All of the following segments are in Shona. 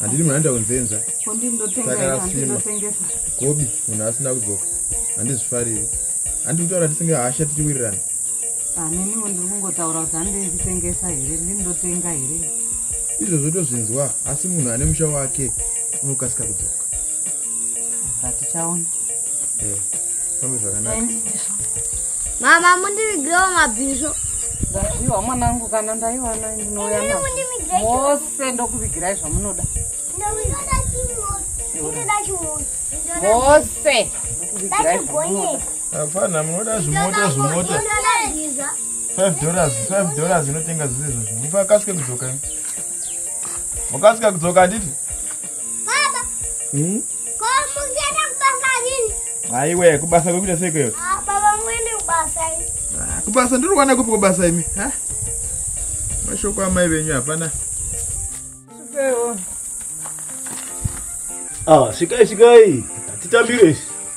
handidi munhu anoita kunzenza takasvima gobi munhu asina kudzoka handizvifariri handi kutaura tisinge hasha tichiwirirana ah, neniwo ndiri kungotaura kuti handi ndichitengesa here ndindotenga here izvozvo tozvinzwa asi munhu ane musha wake unokasika kudzoka zatichaona eh, fambe zvakanaka mama mundivigirewo mabhisvo ndaiwa mwanangu kana ndaiwana ndinouya nao Sisi ndokuvigirai zvamunoda. Mose. Ndokuvigirai zvamunoda. Hapana munoda zvimota zvimota. 5 dollars, 5 dollars inotenga zvese izvozvo. Mukakasike kudzoka. Mukasika kudzoka handiti? Baba. Hmm? Ko mungienda kubasa rini? Aiwe kubasa kwekuita sei kwewe? Ah baba muende kubasa. Ah kubasa ndiri kuwana kupi kubasa imi? Ha? Mashoko amai venyu hapana. Sikewo. Ah sikai sikai. Titambire.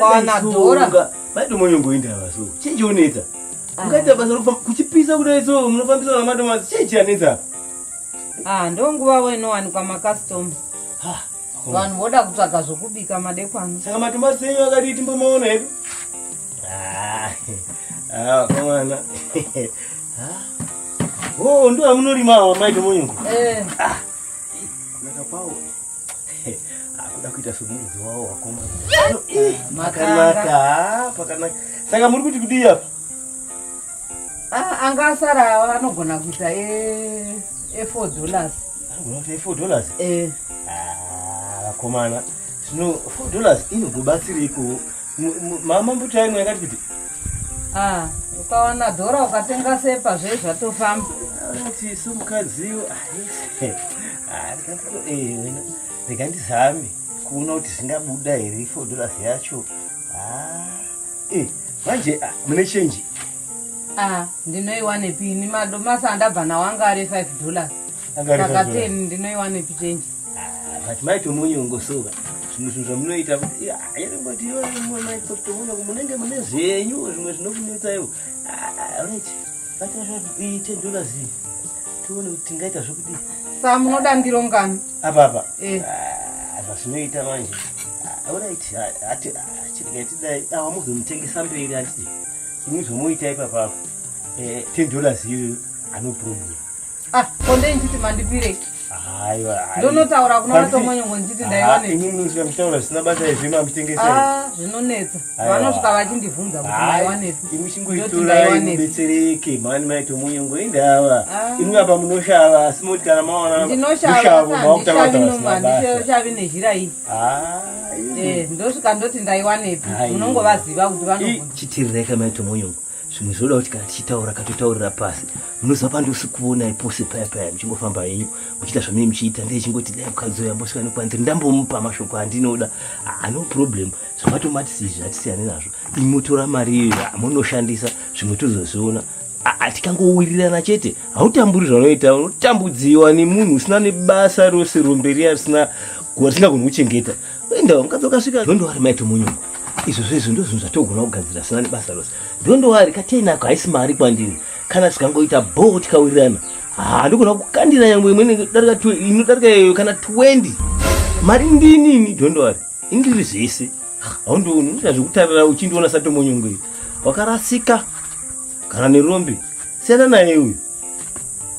Panadora. Bado moyo ngoinda vaso. Chinje unetsa. Ah. Ungaita basa rokufa kuchipisa kudai so munofambisa na madoma chinje anetsa. Ah, ndo nguva weno wani kwa macustomer. Ha. Vanhu voda kutsvaga zvokubika madekwana. Saka matomba senyu akati timbomaona hedu. Ah. Ah, komana. Ah. Oh, ndo amunorima wa mai tomonyo. Eh. Ah. Nakapawo. akuda kuita somuridzi wawo wakoma makanaka pakanaka saka muri kuti kudii apa ah, anga asara anogona kuita efour dollars anogona kuita efour dollars eh. ah, vakomana zvino four dollars inogobatsireiko mama mbuta yenyu yakati kuti ah, ukawana dhora ukatenga sepa zve zvatofamba ati somukadzi ah, Ah, rega ndizame kuona kuti zvingabuda here four dollars yacho ah, eh, manje ah, mune chenji ndinoiwanepi ini madomasi andabva nawo anga ari five dollars saka ten ndinoiwanepi chenji but maitomunyongo sova zvimwe zvinhu zvamunoita kuti airengoti iwe mwe maitotomunya munenge mune zvenyu zvimwe zvinokunetsa ivo right vatira zvakuiite dollars tione kuti tingaita zvokudii Saka munoda ndiro ngano? Apa apa. Eh. Ah, zvazvinoita manje. Ah, Alright, ah, ati chirega tidai awamuzomutengesa mberi ati. Ini zvomuita ipapa apo. Eh, 10 dollars iyoyo ano problem. Ah, konde nditi mandipire. Aiwa, aiwa. Ndonotaura kuna vatomwe nyongo nditi ndaiwane. Ini munozvika mutaura zvisina basa izvi mamutengesa. Ah, zvinonetsa. vanosvika vachindibvunza kuti maiwanepi imi chingoitorai mubetsereke mani maito munyu ngoindava ah. imi apa munoshava asi moti kana maona mushavo mautaaandishavi nezhira iyi ah, eh, ndosvika ndoti ndaiwanepi munongovaziva kuti vanochitirireka maito munyu zvimwe zvinoda kuti kana tichitaura katotaurira pasi munoziva pandosi kuonai pose paya paya muchingofamba henyu muchiita zvamunee muchiita ndeichingoti dai mukadzi uyo ambosvika nekwanziri ndambomupa mashoko andinoda ah, no problem zvamatomati sizvi hatisiyane nazvo imotora mari iyo amunoshandisa zvimwe tozozviona tikangowirirana chete hautamburi zvanoita unotambudziwa nemunhu usina nebasa rose rombe riya risina risingagoni kuchengeta enda mukadzi wakasvika ndondowari maito munyumba izvo zvezvo ndozvinhu zvatogona kugadzira sina nebasa rose ndondowari kateinako haisi mari kwandiri kana tikangoita bho tikawirirana handogona kukandira nyangwe imwe inodarika iyo kana 20 mari ndinini ndondowari indiri zvese haundioni unoita zvekutarira uchindiona satomonyongo iyo wakarasika kana nerombe siyana naye uyu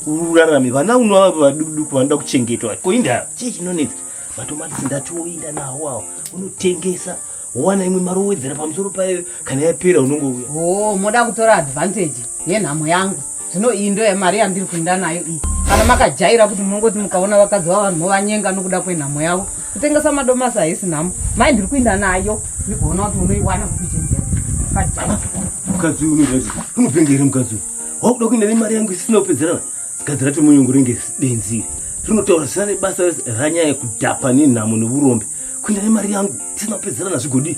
urarame vana unovava vadukuduku vanoda kuchengetwa ko indaa chii chinonetsa matomatisi ndati woinda nawo awo unotengesa wowana imwe mari wowedzera pamusoro payo kana yapera unongouya o oh, moda kutora advantage yenhamo yangu zvino iyi ndo yemari yandiri kuinda nayo iyi kana makajaira kuti munongoti mukaona vakadzi vavanhu movanyenga nokuda kwenhamo yavo kutengesa madomasi haisi nhamo mai ndiri kuinda nayo ndikuona kuti unoiwana kuichenjera mukadzi uyu unozaii unopenga here mukadzi uyu wakuda kuinda nemari yangu isina kupedzerana gadzi racho munyungu ringe denziri rinotaura zvisina nebasa ranyaya kudhapa nenhamo neurombe kuinda nemari yangu isina kupedzerana zvigodii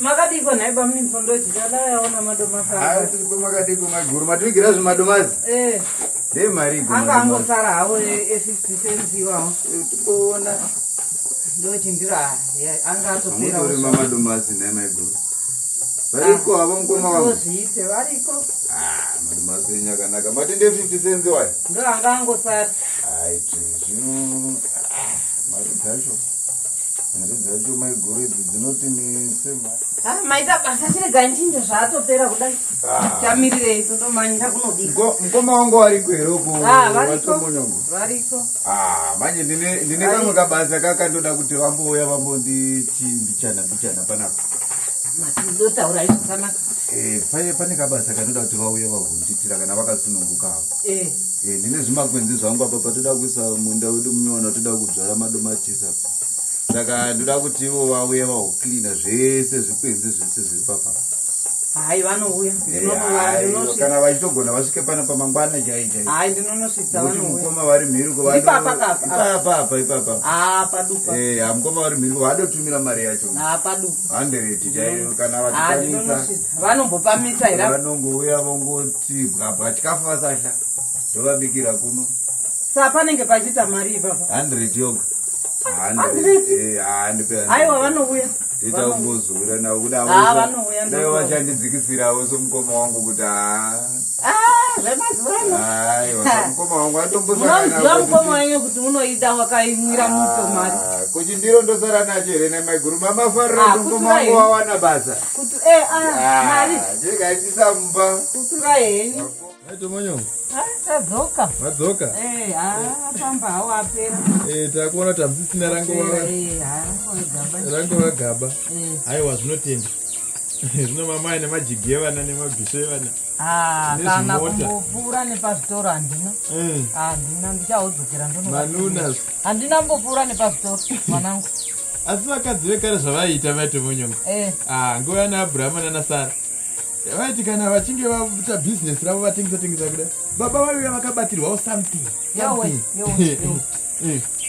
makadiko nhai bamuniniso ndochida dai aona madomasi makadiko maguru mativigira zvemadomasi eh. dei marigo anga angosara havo efifty cents iwawo eh, tikuona ndochindira anga atoperarima madomasi nhai maiguru variko havo ah, mukoma wazviite variko ah, madomasi enyu akanaka mati nde fifty cents iwayo ndo anga angosara aiti zvino ah, mari dzacho Mari dzacho maiguru idzi dzinoti nese ma. Ah, maita basa chirega nchinja zvaatopera kudai. Ah. Tamirirei totomanyira kunodii. Go mkoma wangu wariko here uko? Ah, variko. Variko. Ah, manje ndine ndine kamwe kabasa kakandoda kuti vambouya vambonditi mbichana mbichana panapa. Matizotaura izvo kana. Eh, paye pane kabasa kanoda kuti vauye vavhunjitira kana vakasununguka avo. eh. eh, ndine zvimakwenzi zvangu apa patoda kuisa munda wedu munyowano toda kudzvara madomatisa saka ndoda kuti ivo vauye vaucleana zvese zvikwenzi zvese zviri papa hai vanouya eh, kana vachitogona vasvike pano pamangwana chaijai ndinonosvitsamukoma vari mhirikoipapapa ipapa ah, eh, mukoma vari mhiriko vadotumira mari yacho ah, handereti chaiyo kana vachikwanisa vanombopamisa here vanongouya vongo chibwabwa chikafu vasahla ndovabikira kuno sa panenge pachiita mari ipapa hundred yoga haiwa vanouya ita ungozura navo kudai vachandidzikisirawo somukoma wangu kuti haa zvemazuvanomukoma mukoma wenyu kuti unoida wakaimwira muto mari kuchindiro ndosara nacho here nemaiguru mamafarira kuti mukoma wangu wawana basa Kuti eh ah, ah mari. Jeka itisa mumba. Kutura heni. Aito manyongo. Ah, tadzoka. Madzoka. Eh, ah, pamba hawo apera. Eh, takuona tamsisina rango wa. Eh, ah, gaba. Rango wa gaba. Eh. Haiwa zvinotenda. Zvino mama ine majigi evana nemabhisho evana. Ah, kana kumbopfuura nepazvitoro handina. Eh. Handina ndichaodzokera ndono. Manunas. Handina kumbopfuura nepazvitoro mwanangu. asi vakadzi vekare zvavaiita maite monyonga eh. ah, nguva yana abrahama nana sara vaiti kana vachinge vaita bhizinesi ravo vatengesa tengesa kuda baba vaiuya vakabatirwawo something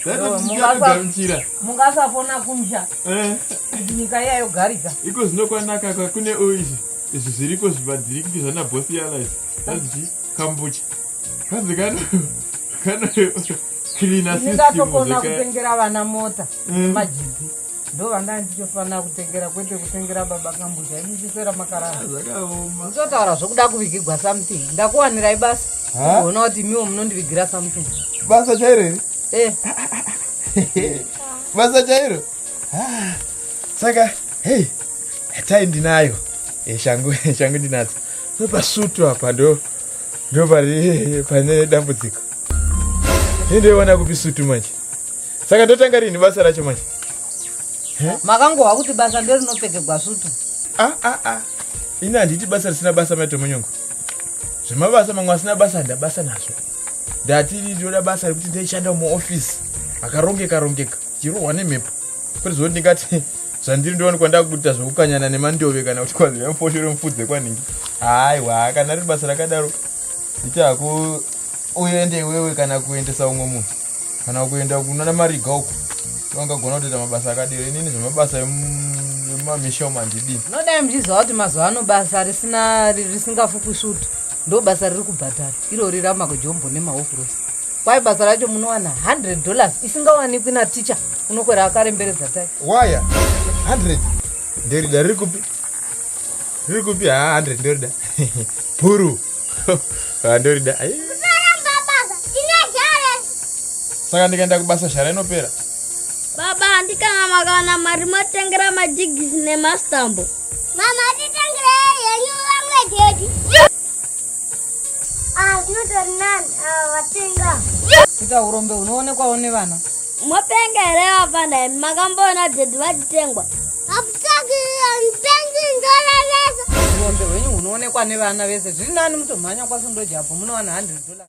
zvatotidamchira mungasafona kumsha eh. kuti nyika iya yogarika iko zvinokwanaka kune izvi izvi zviriko zvivadirikiti zvana bosi yala izvi zvanzi chi kambucha kanzi kana kana ndingatokona kutengera vana mota mm. majigi ndo vanga ndichofanira kutengera kwete kutengera baba kambuja ini ndisera makaraaotaura ah, zvokuda kuvigigwa something ndakuwanirai basa ona kuti miwo munondivigira something basa chairo here eh. basa chairo ah, saka hei tai ndinayo eh, shangu shangu ndinadzo pasutu apa ndo ndo pari pane dambudziko ini ndoiwana kupi sutu manje saka ndotanga rini basa racho manje makangohwa kuti basa nderinopfekegwa sutu a a a ini handiti basa risina basa maitomonyongo zvemabasa mamwe asina basa handabasa nazvo ndati ndinoda basa rekuti ndaishanda muofisi akarongeka rongeka chirohwa nemhepo kwete zvoti ndingati zvandiri ndione kwandaa kuita zvekukanyana nemandove kana kuti kwanzira mufosho remufudze kwanhingi haiwa kana riri basa rakadaro itaku uende iwewe kana kuendesa umwe munhu kana kuenda kunana mariga uko angagona kutoita mabasa akadero inini zvemabasa emamisha umu handidii nodai muchiziva kuti mazuva ano basa risina risingafupi svutu ndo basa riri kubhadhara irori ramakojombo nemahofurosi Kwai basa racho munowana 100 dollars isingawanikwi na teacher unokwera akaremberedza tai. Waya 100 nderida riri kupi? Riri kupi ha 100 nderida. Puru. Ha nderida. Saramba basa ine jare. Saka ndikaenda kubasa shara inopera. Baba handikana makawana mari motengera majigisi nemastambo. Mama titengere yenyu language yedu. Ah, zvinotori nani ava ah, vatenga. Ita urombe unoonekwawo nevana. Mopenga here vafana imi makamboona dhedhi vachitengwa. Hakutsvaki mupenzi ndorevesa. Urombe hwenyu hunoonekwa nevana vese zviri nani mutomhanya kwasundojapo munowana 100 dollars.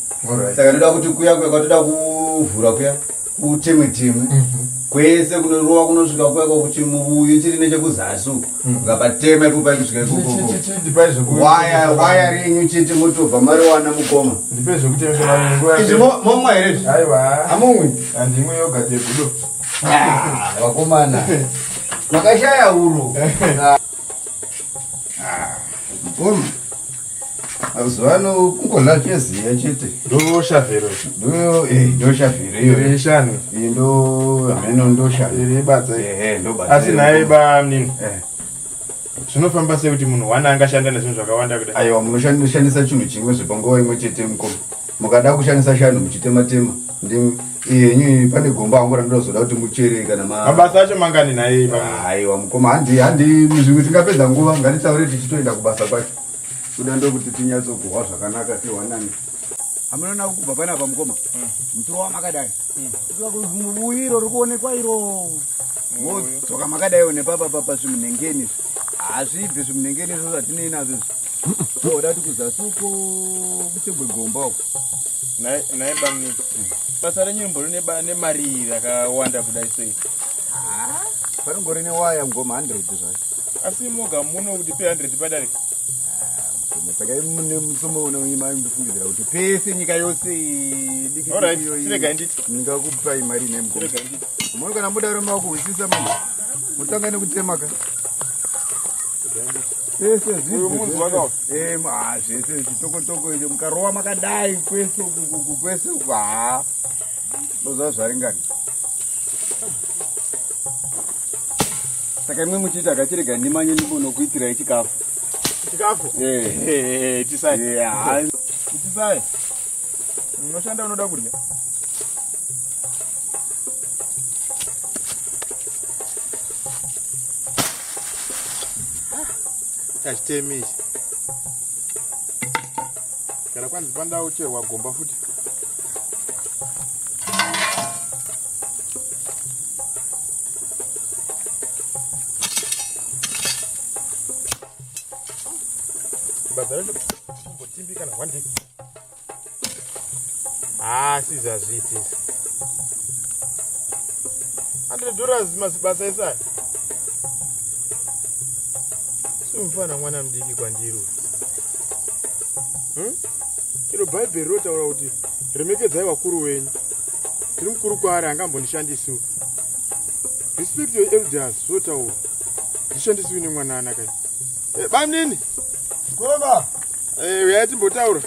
saka ndoda kuti kuya kuya kwatoda kuvhura kuya kutemwe temwe mhm. kwese kunorova kunosvika kuya kwakuti muvuyu chiri nechekuzasi uku mhm. ukapatema ipopa ikusvika ikokowaya renyu chete motobva mariwana mukoma izvi momwa here zvi amumwi andimwe yoga tegudo ah, vakomana makashaya uru Ah, mkoma mazuva ano kungodla cheziya chete ndoshavhero ndoyo eh, ndoshavhero iyo iri shani Eh, ndo hameno ndoshavhero iri badza iri. ehe ndobata asi naye bamnini Eh. zvinofamba sei kuti munhu one angashanda nezvinhu zvakawanda kudai aiwa munoshandisa chinhu chimwe zvepanguva imwe chete mkoma mukada kushandisa shanu muchitema tema Ndimi yenyu iyi pane gomba angu randozoda kuti muchere kana ma mabasa acho mangani naye aiwa mukoma handi handi muzvimwe tingapedza nguva ngatitaure tichitoenda kubasa kwacho kuda ndokuti tinyatsokuhwa zvakanaka tiwanani amunoona kubva pane apa mukoma hmm. muturo wamakadai muvuyiro hmm. ri kuonekwa iro modzoka makadaiwo nepapa papa zvimunengeni hazvibvi zvimunengeni izvo zvatinei nazvo izvi oda tikuzasuko kuchegwe gomba uko nhai bamni basa renyu rimbori nemari rakawanda kudai sei paringori newaya mugoma 100 zvayo asi moga muno kuti pe 100 padarika ah, saka mune musomo unoima ndifungidzira kuti pese nyika yose dikirega nditi ndingakupai mari ine mugoma moni kana mudaro makuhwisisa mani mutanga nekutemaka pese zviuyu munzwa kaona Em, ah, zvese chitokotoko icho mukarova makadai kwese uku kuku kwese uku haa ndoziva zvaringani saka imwe muchiita kachirega ndimanye ndibonokuitirai chikafu chikafu Eh, itisai eh, haa itisai unoshanda unoda kudya kachitemi ichi kana kwanzi pandawo cherwa gomba futi But I don't know. But Timbi can one day. haasi ah, zvazviiti izvi hundred dollars mazibasa esaya simufana mwana mudiki kwandiri uyu hmm? iro bhaibheri rinotaura kuti remekedzai vakuru wenyu tiri mukuru kwaari angambondishandisiwo respect your elders zvotaura ndishandisiwi nemwana anakai Eh, bamnini koma eh, uyai timbotaura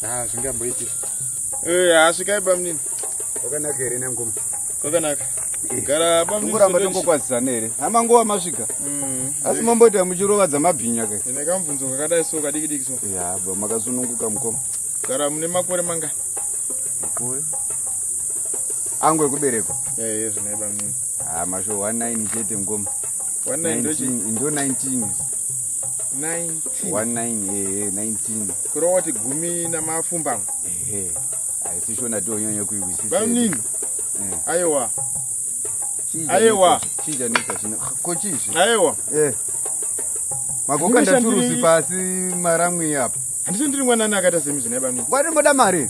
ah, zvingamboiti eh, asvikai bamnini wakanaka here nangoma wakanaka gara bamningoramba tongokwazisana here hama nguva masvika mm. asi mamboita muchirovadza mabhinya ke ine kamubvunzo kakadai so kadiki diki so ya ba makasununguka mukoma gara mune makore mangani makore angu ekuberekwa eezvinai bamnini Ah, masho 19 chete ngoma. 19 ndochi. 19 ndo 19. 19. 19 eh eh, 19. Kurova kuti gumi namapfumbamwe. Ehe. Haisi shona ndonyanya kuihwisisa. Bamnini. Eh. Aiwa. Chinja Aiwa. nitsa- Chinja nitsa chino. Ah, Ko chizvi. Aiwa. Eh. Magoka Ndinoshandiri- ndaturusi pasi maramwi apa. Handishandiri mwanana akaita semi zvine bamnini. Wari moda mari.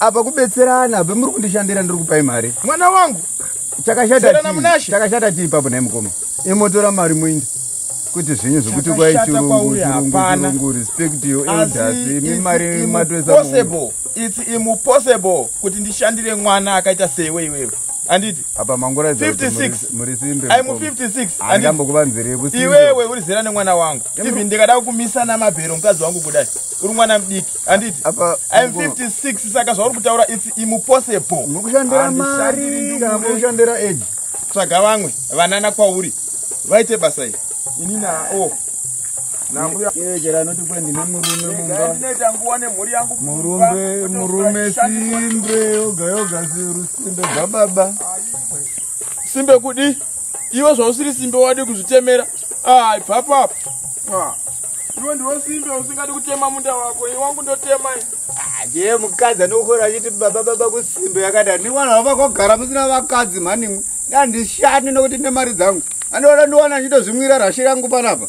apa kubetserana be muri kundishandira ndiri kupai mari mwana wangu chakashata chii papo nhai mukoma imotora mari muindi kuti zvinyu zvekuti kwai chirungu respect yo elders imi mari matoisa it's impossible kuti ndishandire mwana akaita seiwe iwewe anditi apa mangura 56 muri simbe i'm 56 andambo kuvanzire iwewe uri zera nemwana wangu even ndikada kukumisa namabhero mukadzi wangu kudai uri mwana mdiki handiti im 56 saka zvauri kutaura its impossible mukushandira mari kana mukushandira age tsvaga vamwe vanana kwauri vaite basa iri ini nao oh. chero anoti kwe ndine murume mumbainoita nguva nemhuri yangu murumbe murume simbe yoga yoga rusimbe bvababa simbe kudi iwe zvausiri simbe wadi kuzvitemera Ah, ipapo apo. Ah. Iwe ndiwe simbe usingadi kutema munda wako, iwe wangu ndotema. Ah, je, mukadzi anokora achiti baba baba kusimbe yakada. Ni wana wava kogara musina vakadzi mhani. Ndandi shani nokuti nemari dzangu. Anoda ndiwana ndito zvimwira rashi rangu panapa.